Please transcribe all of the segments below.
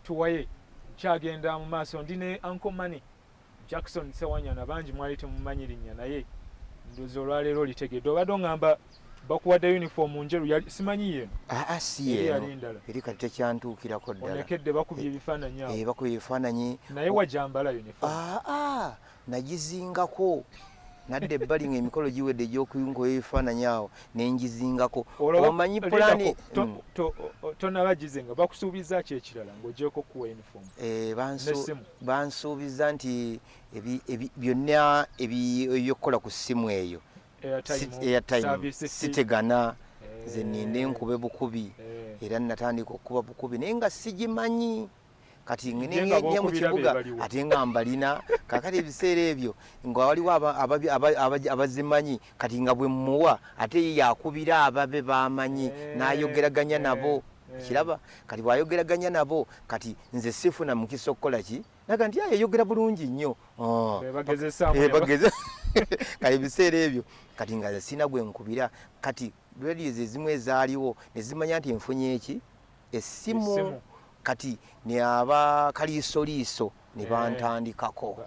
tuwaye kyagenda mu maaso ndi ne uncle money jackson sewanyana bangi mwali temumanyi linnya naye ndozi olwaleero litegedde obadde ongamba bakuwadde uniform njeru simanyi yeno ah, ah, siyenoyalindala eri kati tekyantuukirako ddalaonekedde bakubye ebifaananyi eh, bakubye ebifaananyi naye wajambala uniform ah, nagizingako nadda ebbali nga emikolo giwedde egyokuyunkoyo ebifaananyi awo nenjizingako omanyi pulani mm. tonaba gizinga bakusuubiza ki ekirala ngaogyeko kuwa uniform eh, bansuubiza nti byonna ebyokukola ku ssimu eyo airtime sitegana eh. nze ninde nkube bukubi eh. era natandika okukuba bukubi naye nga sigimanyi kati ngenye mu kibuga ate nga mbalina kakati ebiseera ebyo nga waliwo abazimanyi kati nga bwe mmuwa ate ye yakubira ababe bamanyi eh, n'ayogeraganya nabo eh, eh. kiraba kati bwayogeraganya nabo kati nze sifuna mukisa okukola ki naga nti yayogera bulungi nnyo oh. kati ebiseera ebyo kati nga sina gwe nkubira kati radios ezimu ezaaliwo nezimanya nti enfunye eki essimu kati ne aba kaliisoliiso ne eh. bantandikako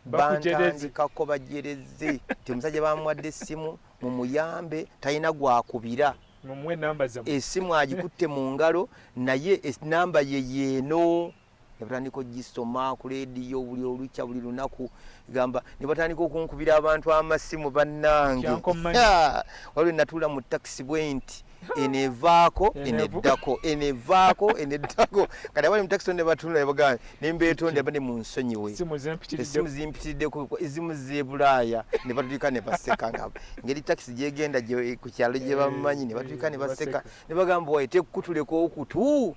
bantandikako bajereze ti omusajja bamwadde essimu mumuyambe talina gwakubira esimu agikutte mu ngalo naye enamba ye yeeno nebatandika ogisoma ku lediyo buli olukya buli lunaku gamba nebatandika okunkubira abantu amasimu bannange waliwo natuula mu takisi bwenti enevaako eneddako enevaako eneddako kati abali mu takisi o nebatunula nebagamba nembetonde abade mu nsonyiwe esimu zimpitiriddeko ezimu zebulaaya nebatulika nebaseka nga ngeri takisi gyegenda ku kyalo gyebamanyi nebatulika nebaseka nebagamba waye tekukutuleka okutu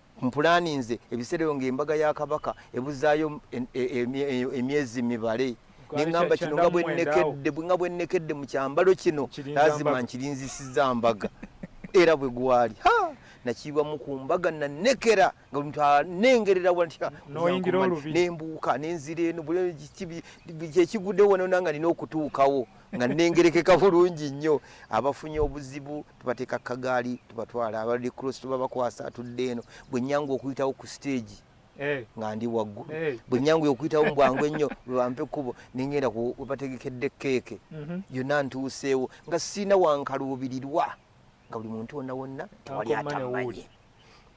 Mpulaaninze ebiseera ebyo ng'embaga ya Kabaka ebuzaayo emyezi mibale ne ŋŋamba kino nga bwe nnekedde nga bwe nnekedde mu kyambalo kino laazima nkirinzisizza mbaga era bwe gwali nakiibwamu ku mbaga nanekera nga buli muntu anengerera watya nembuuka nenzira eno kyekiguddewo wano nanga nina okutuukawo nga nengerekeka bulungi nnyo abafunye obuzibu tubateeka kagaali tubatwala abali cross tubabakwasa atudde eno bwe nyanga okuyitawo ku siteegi eh. nga ndi waggulu eh. bwe nyanga okuyitawo mu bwangu ennyo bwebampa ekkubo nengenda webategekedde keeke mhm. yonna ntuuseewo nga siina wankaluubirirwa nga buli muntu wonna wonna tewali atamanye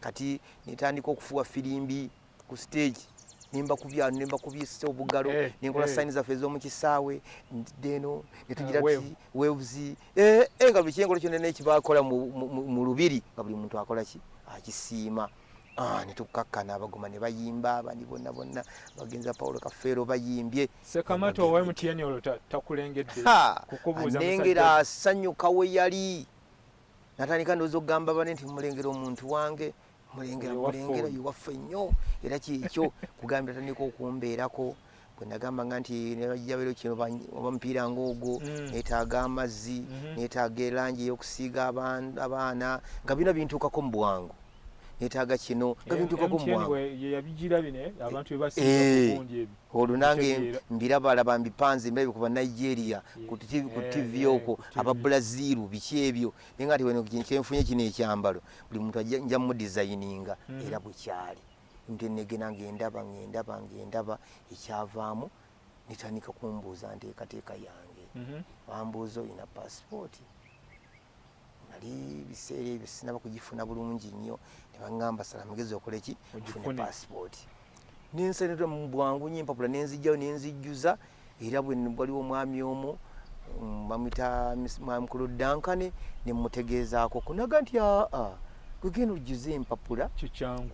kati netandika okufuwa firimbi ku stage nemba kubyano nemba kubyisa obugalo eh, nenkola eh. sign zaffe ezomu kisaawe ndideno netugira ah, ti waves eh, eh nga buli kyenkolo kyonna nekibakola mu lubiri nga buli muntu akola ki akisiima ah, netukakkana abagoma ne bayimba abandi bonna bonna bagenza paulo kafeero bayimbye sekamata owa mtn olwo takulengedde kukubuuzanengera asanyuka we yali natandika ndooza okugamba bane nti mulengera omuntu wange mulengera mulengera iwaffe nnyo era kyekyo kugambira tandika okumbeerako bwenagamba nga nti nebajjabero kino oba mupiira ngaogwo mm. netaaga amazzi mm-hmm. netaaga elangi eyokusiiga abaana nga bina bintuukako mu bwangu netaaga kino nga bintuukako mu bwangu olwo nange mbirabalaba mbipanze mbirabye ku banigeria ku ttivi okwo aba bulaziiru biki ebyo naye nga tiweno kyenfunye kino ekyambalo buli muntu nja mudizayininga hmm. era bwekyali nti negena ngendaba ngendaba ngendaba ekyavaamu netandika kumbuuza nteekateeka yange mhm. bambuuza olina pasipooti nali biseera ebyo sinaba kugifuna bulungi nnyo nebagamba sala mugezi okoleki ofune pasipooti nensenetula mu bwangu nyo empapula nenzijjayo nenzijjuza era waliwo omwami omu mm, bamwita mwamukulu dankane nemutegeezaako kunaga nti aa gwegenda ojjuza empapula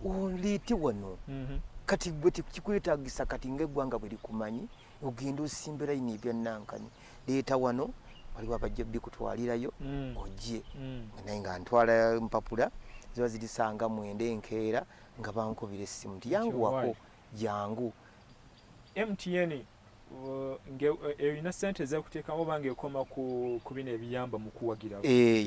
oliiti wano mhm. kati gwe tekikwetagisa kati ngaeggwanga bwe likumanyi ogenda osimba layini ebyanankani leeta wano waliwo abajja bikutwalirayo mm. ojje mm. naye nga ntwala mpapula ziba zirisanga mwenda enkeera nga bankubira essimu nti yanguwako jangu mtn ng'erina eh, sente ezakuteekamu oba ng'ekoma ku bino ebiyamba mu kuwagira eh,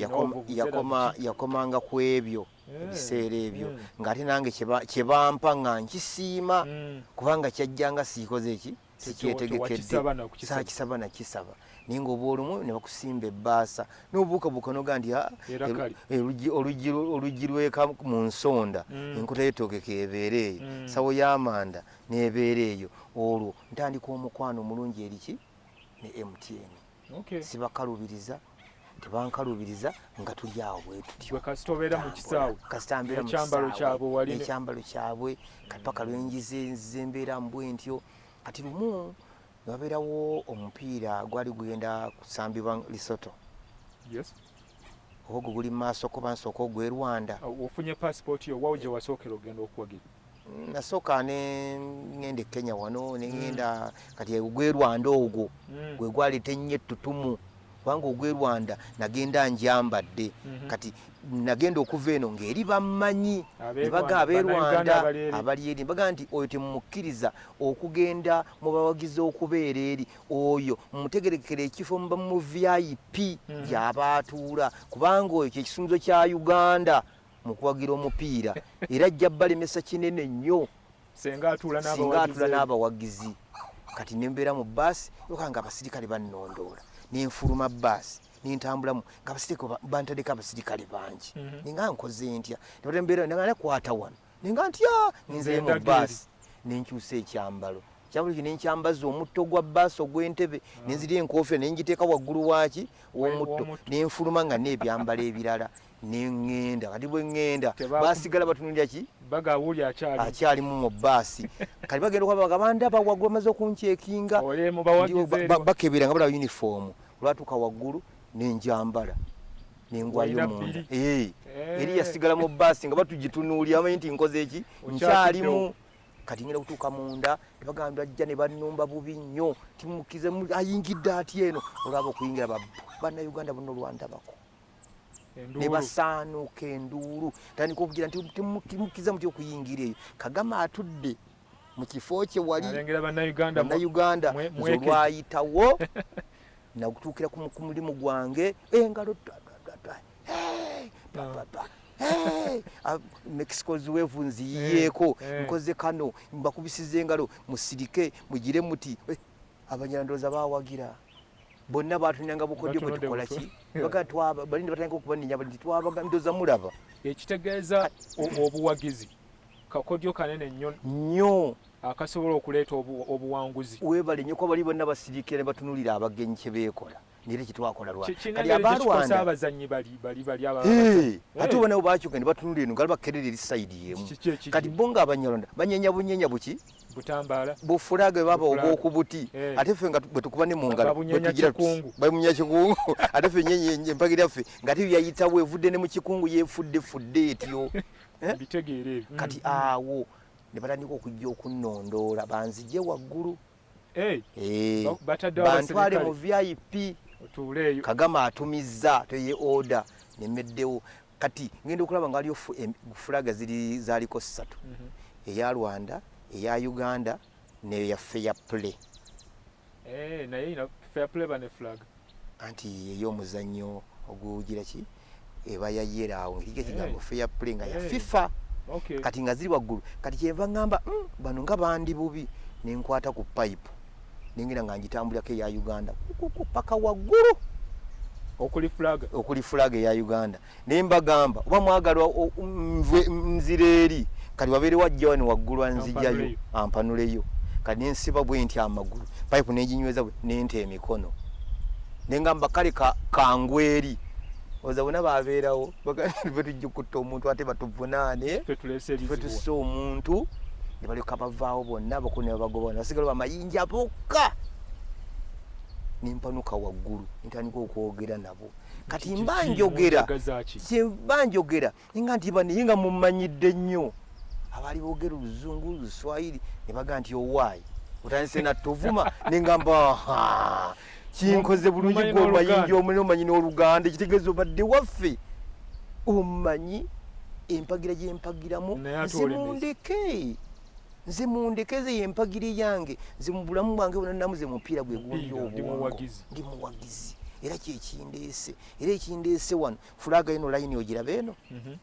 yakomanga ku ebyo eh, ebiseera ebyo hmm. ng'ate nange kye bampa nga nkisiima hmm. kubanga kyajjanga siikoze eki sikyetegekedde sakisaba nakisaba naye nga obwolumu ne bakusimba ebbaasa n'obuukabuuka noga nti ah, oluggi lweka mu nsonda mm. enkuta yetogeka ebeera eyo mm. sawo y'amanda n'ebeera eyo olwo ntandika omukwano omulungi eriki ne mtn sibakalubiriza okay. tebankalubiriza nga tuli awo bwetutyoekyambalo kyabwe kapaka lwenjize nzize mbeera mbwe ntyo kati lumu newabeerawo omupiira gwali gugenda kusambibwa lisoto oba ogwo guli mu maaso ko bansooka ogw'e rwanda ofunye pasipooti yo wawo gye wasookera ogenda okuwagira nasooka nengenda ekenya wano nengenda mm. kati ogwe rwanda ogwo mm. gwe gwaleeta ennyo ettutumu kubanga ogwe rwanda nagenda njambadde mhm. kati nagenda okuva eno ngaeri bammanyi nebaga abe rwanda abali eri baga nti oyo temumukkiriza okugenda mu bawagizi okubeera eri oyo mutegerekera ekifo muba mu vip mm. gyabaatuula kubanga oyo kyekisumzo kya uganda mu kuwagira omupiira era ajja balemesa kinene nnyo singa atula n'abawagizi kati nembeera mu baasi oka nga abasirikale bannondoola nenfuluma baasi nentambulamu nga abasirikale bantadeko abasirikale bangi mhm. ninga nkoze ntya nebatembeera nga nakwata wano ninga ntya ninzeye mu baasi nenkyusa ekyambalo kyabuli kino enkyambaza omutto gwa baasi ogw'entebe ah. nenziri enkoofira nengiteeka waggulu waaki w'omutto nenfuluma nga n'ebyambalo ebirala nengenda kati bwengenda basigala batunulira ki bagawuli akyali akyali mu basi kati bagenda kwa bagabanda bawagwa maze okunchekinga bakebera nga bala uniform lwatuka wagulu nenjambala nengwayo munda eh, eh eri yasigala mu basi nga batujitunulira amanyi nti nkoze eki nkyalimu kati ngenda kutuuka munda nebagamba ajja ne bannumba bubi nnyo timukize ayingidde ati eno olwaba okuyingira banauganda buno olwandabako ne basaanuuka enduulu tandika okugira nti temukkiriza mutya okuyingira eyo kagame atudde mu kifo kye wali bannayuganda nze olwayitawo nagutuukira ku mulimu gwange engalo mexico ziwevu nziyiyeeko eh, eh. nkoze kano mbakubisiza engalo musirike mugire muti eh, abanyandoza bawagira bonna batunyanga bukodyo bwe tukola ki bagatwabalindi batandika okubaninya bali twabaga ndoza mulaba ekitegeeza obuwagizi kakodyo kanene nnyo nnyo akasobola okuleeta obuwanguzi webale nnyo kuba bali bonna basirikira ne batunulira abagenyi kye beekola naye tekitwakola lwakati abalwanda abazanyi bali bali bali aba eh, ate ubona ubakyuka ne batunula eno ngaliba kerere eri side yemu kati bo nga abanyalonda banyenya bunyenya buki butambala bufulaga baba obwokubuti eh. ate ffe nga bwetukuba ne mungala bwetugira bamunya kikungu ate ffe nyenye empagira ffe nga tiyo yayitawo evudde ne mu kikungu yefudde fudde etyo eh? bitegeere kati mm. awo ne batandika okujja okunnondoola banzije waggulu Eh, eh, bantwale mu vip kagama atumizza toye oda nemeddewo kati ngenda okulaba nga waliyo fulaga ziri zaliko ssatu mhm. eya rwanda eya uganda neyaffe ya play eh, anti yeyo omuzannyo ogugira ki eba ya yera awo erige kigambo eh. fair play nga ya eh. fifa okay. kati nga ziri waggulu kati kyenva ngamba mm, bano nga bandi bubi nenkwata ku pipe nengera nga njitambulirako eya uganda paka waggulu okuli flag eya uganda naye mbagamba oba mwagala nzire eri kati wabeerewo ajja wano waggulu anzijayo ampanuleyo kati nensiba bwe nti amagulu payipu neginyweza bwe nente emikono nengamba kale kangwa eri oza bona babeerawo bwe tujja okutta omuntu ate batuvunaane fe tusse omuntu ne balyoka bavaawo bonna abakulu ne babagoba bona basigala bamayinja bokka nempanuka waggulu ntandika okwogera nabo kati mba njogera kyemba njogera nga nti banaye nga mumanyidde nnyo abaali boogera oluzungu luswayiri ne baga nti owaayi otandise nattovuma nengamba kinkoze bulungi gwe omayinja omune omanyi n'oluganda ekitegeeza obadde waffe omanyi empagira gyempagiramu zimundeke nze mundekeze yempagire yange nze mubulamu bwange bona namuze mupiira gwegundi obwongo ndi muwagizi era kyekindeese era ekindeese wano fulaga ino layini ogiraba eno mhm.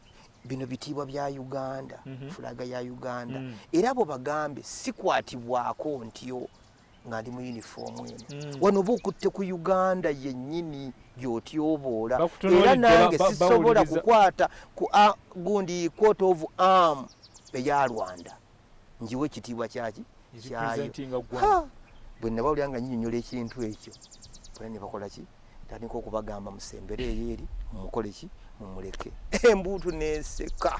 bino bitiibwa bya uganda mhm. fulaga ya uganda mm. era abo bagambe sikwatibwako ntyo nga ndi mu uniform eno mm. wano oba okutte ku uganda yennyini gyotyoboola era nange sisobola kukwata ku gundi court of arm eya rwanda njiwe ekitiibwa kyaki kyayo bwe nabawulira nga nyinyonyola ekintu ekyo bwe ne bakola ki tandika okubagamba musembere eyo eri mumukole ki mumuleke embuutu neseka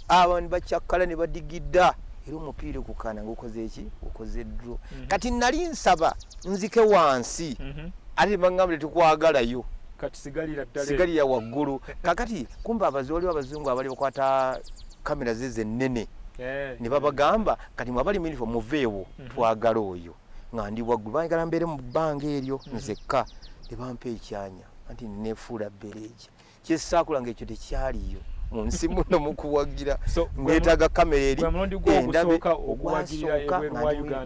abantu bakyakkala ne badigidda era omupiira okukana ngaokoze ki okoze dro mhm. kati nali nsaba nzike wansi mhm. ate bagamba tetukwagalayo sigalira waggulu kakati kumba abazi waliwo abazungu abali bakwata kamera ze zennene eh. ne babagamba kati mwabali minifa muveewo mhm. twagala oyo nga ndi waggulu baagala mbeere mu bbanga eryo mm-hmm. nzekka ne bampa ekyanya anti nefuula bereegi kyesaakula nga ekyo tekyaliyo mu nsi muno mu kuwagira ngeetaaga kamera eri endabe ogwasooka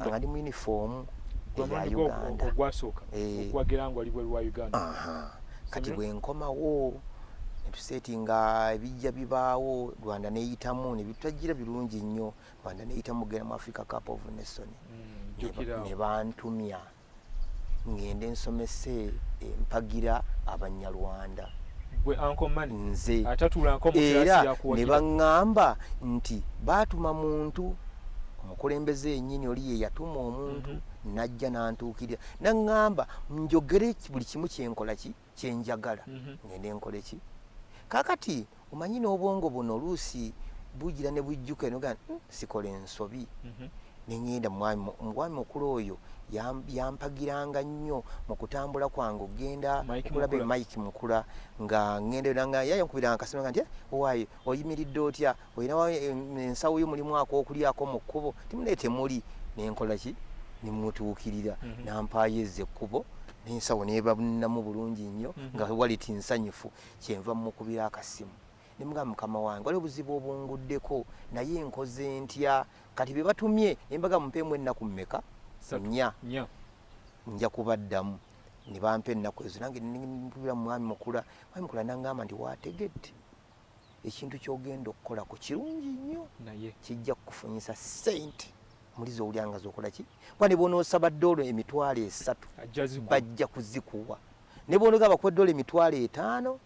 nga ndi mu yunifoomu eya uganda eh. kati bwe nkomawo netuseeti nga ebijja bibaawo rwanda neyitamu nebitutagira birungi nnyo Rwanda neyita mugera mu Africa Cup of Nation mm, ne bantumya ngende nsomese eh, mpagira abanyarwanda nze era ne baŋŋamba nti baatuma muntu omukulembeze yenyini oli ye yatuma omuntu mm -hmm. najja nantuukirira naŋŋamba njogere buli kimu kyenkola ki kyenjagala ngende nkoleki kakati omanyi n'obwongo buno oluusi bujira ne bujjuka enoga hmm, sikola ensobi mhm. nengenda mwami mwami mukulu oyo yampagiranga nnyo mu kutambula kwange okugenda okulaba mike mukula nga ngenda nga yayankubiranga kasima nga nti eh, owaye oyimiridde otya olinawo ensawo yo mulimu akokulyako mu kkubo timune temuli nenkola ki nemutuukirira mhm. nampaayo ezza ekkubo nensawo nebabunamu bulungi nnyo mhm. nga waliti nsanyufu kyenva mukubira akasimu nemuga mukama wange waliwo obuzibu obunguddeko naye nkoze ntya kati bebatumye embaga mumpeemu ennaku mmeka nya nja kubaddamu nebampa ennaku ezo nange mpubira mumwami mukula mwami mukula nangamba nti wategedde ekintu kyogenda okukola ku kirungi nnyo naye kijja kukufunyisa sente muli zowulya nga zokola ki kuba ne bwonoosaba doolo emitwalo esatu bajja kuzikuwa ne bwonoga bakuwa doolo emitwalo etaano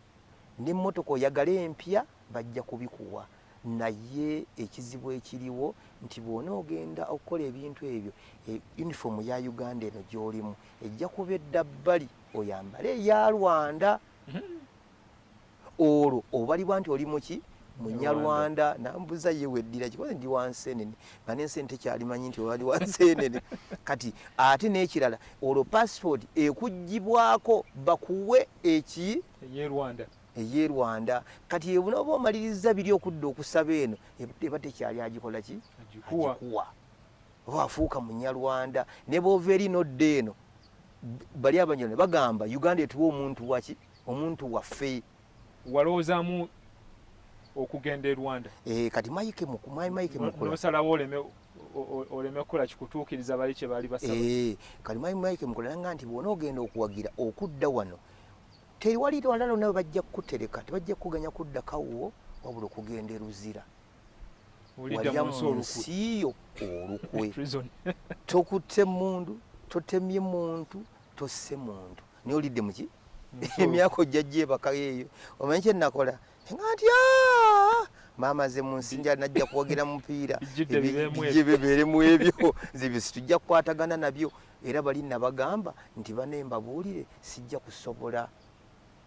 n'emmotoka oyagala empya bajja kubikuwa naye ekizibu ekiriwo nti bwonoogenda okukola ebintu ebyo e, yunifoomu ya uganda eno gy'olimu ejja kuba edda bbali oyambale eya rwanda mm-hmm. olwo obalibwa nti oli muki munyarwanda nambuza ye weddira kikoze ndi wansenene nga nensi ntekyalimanyi nti obali wansenene kati ate n'ekirala olwo passport ekugibwako bakuwe eki eyerwanda eye rwanda kati ebuna oba omaliriza biri okudda okusaba eno eba tekyali agikola ki agikuwa oba afuuka munyarwanda ne bova eri nodda eno bali abanyone bagamba uganda etuwa omuntu waki omuntu waffe walowoozamu okugenda e rwanda e, kati maike maike mukunosalawo oleme oleme kukola kikutuukiriza bali kye baali basaba e, kati maike maike mukola nanga nti bwona ogenda okuwagira okudda wano tewali lwala lona bajja kukutereka tebajja kukuganya kuddakawo wabula okugenda eruzira walya mu nsi yo olukwe tokutte mundu totemye muntu tosse muntu naye olidde muki emyaka ojja gyebakayo eyo omanyi kyenakola nga nti maama ze mu nsi njala najja kuwagira mupiira bijje bebeere mu ebyo zibisi tujja kukwatagana nabyo era bali nabagamba nti bane mbabuulire sijja kusobola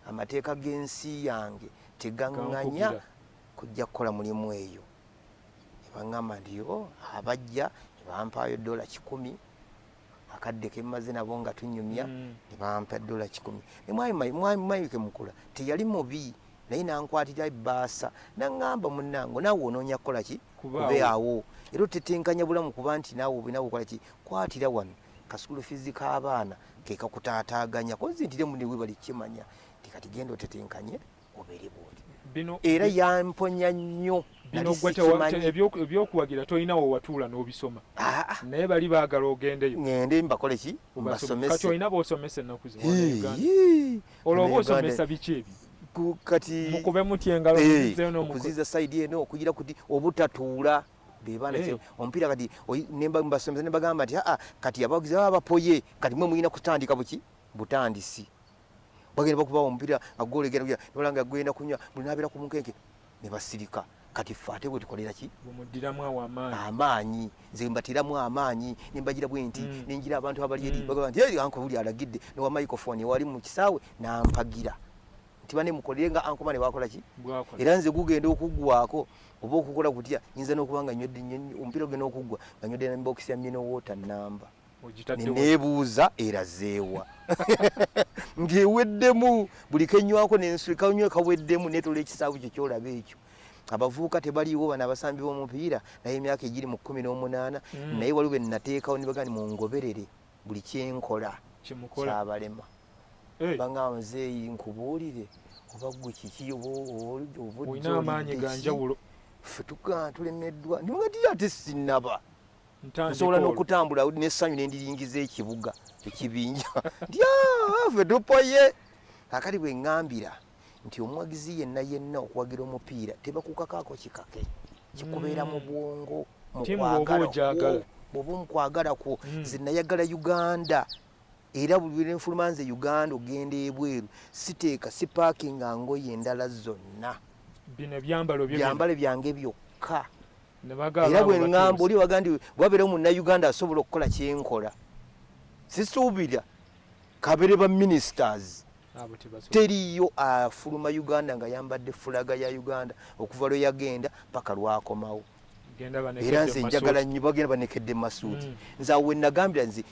amateeka g'ensi yange tegaŋŋanya kujja kukola mulimu eyo ne baŋŋamba nti yo abajja ne bampaayo ddola kikumi akadde ke mmaze nabo nga tunyumya mm. ne bampa ddola kikumi ne mwami mayike mukula teyali mubi naye nankwatira ebbaasa naŋŋamba munnango naawe onoonya kukola ki kube awo era otetenkanya bulamu kuba nti naawe obinawe okola ki kwatira wano kasukulu fizi k'abaana ke kakutaataaganya konzintire mune webali kimanya nti kati genda otetenkanye obere bwoti bino era yamponya nnyo ebyokuwagira tolina wewatuula n'obisoma ah, ah. naye bali baagala ogendeyo ngende mbakole ki mbasomese olina bosomesa ennaku olwo oba osomesa biki ebyo kati mukube mutya engalo okuziza saidi eno okugira kuti obutatuula bebana eh. omupiira kati nemba mbasomesa nembagamba nti aa ah, kati abawagizi baba bapoye kati mwe mulina kutandika buki butandisi bagenda bakubawo omupira agolegera kuya nolanga agenda kunya munabira ku munkeke ne basirika kati ffe ate bwe tukolera ki bumuddiramu awo amaanyi amaanyi nze mbatiramu amaanyi ne mbagira bwe nti mm. nengira abantu abali eri mm. bagamba nti eri anko buli alagidde ne wa microphone ewali mu kisaawe nampagira nti bane mukolere nga anko bane bakola ki era nze gugenda okuggwako oba okukola kutya nyinza n'okuba nga nywedde omupira ogenda okuggwa nga nywedde na mbokisi ya mino water namba nebuuza erazeewa ngeweddemu buli kenywako nensuikanywe kaweddemu netola ekisaabu kyo kyolaba ekyo abavubuka tebaliwo bano abasambi bomupiira naye emyaka egiri mu kumi n'omunaana mm. naye waliwo benateekawo nibagani mungoberere buli kyenkola kyabalema banga muzeeyi nkubuulire oba gwe kiki obaobuolina amaanyi ganjawulo fe tulemeddwa niwagati ate sinaba nsobola n'okutambula n'essanyu ne ndiringiza ekibuga ekibinja ndyave tupoye kakati bwe ŋŋambira nti omuwagizi yenna yenna okuwagira omupiira tebakukakaako kikake kikubeera mu hmm. bwongo mukwagala bwoba omukwagala kwo hmm. ze nayagala uganda era buli wera enfuluma nze uganda ogenda ebweru siteeka sipaakinga ngoye endala zonna bino byambalo byambale byange byokka era bwe ŋŋamba oli waga nti wabeerawo munnayuganda asobola okukola kyenkola sisuubira kabere ba ministers teriyo afuluma uganda nga yambadde fulaga ya uganda okuva lwe yagenda paka lwakomawo era nze njagala nnyo bagenda banekedde masuuti mm. nze awo wenagambira nze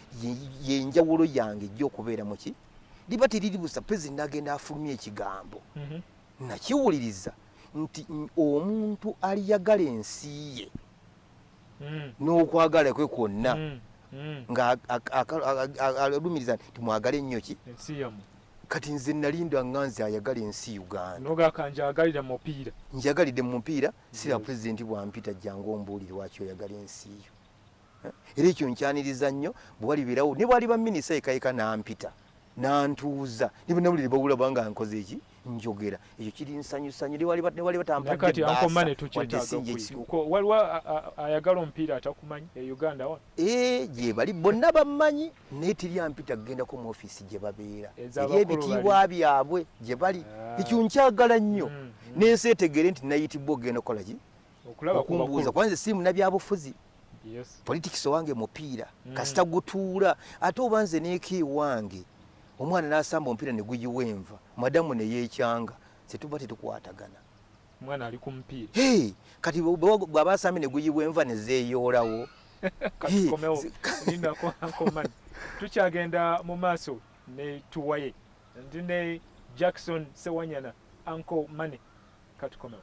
yenjawulo yange ejja okubeera muki liba teriri busa pezi nagenda afulumya ekigambo mm-hmm. nakiwuliriza nti omuntu aliyagala ensi ye hmm. n'okwagala kwe kwonna hmm. hmm. ng'alumiriza nti mwagale ennyo ki kati nze nalinda nga nze ayagala ensi ugandanjagalire mupiira njagalidde mu mupiira sira pulezidenti bwampita jangu ombuulire waki oyagala ensi yo era ekyo nkyaniriza nnyo bwewalibeerawo ne bwaliba minisa ekayeka nampita nantuuza ne banawulire bawula banga nkoze eki njogera ekyo kiri nsanyusanyu newaliba tampaddewaliwo ayagala omupiira atakumanyi e uganda wa eh, gyebali bonna bammanyi naye teri ampita kugendako mu ofiisi gye babeera eri ebitiibwa byabwe gye bali ah. ekyo nkyagala nnyo mm, mm. n'ensi etegeere nti nayitibwa okugenda okukolaki okumbuuza kuba nze siri munabyabufuzi politics owange mupiira mm. kasita gutuula ate oba nze neeka ewange omwana nasamba omupiira neguyiwa enva madamu neyekyanga setuba tetukwatagana mwana ali kumupiira hey, kati bwaba asambye neguyiwa enva nezeyoolawo tukyagenda mu maaso ne tuwaye ndi ne jackson sewanyana anko mane katukomewo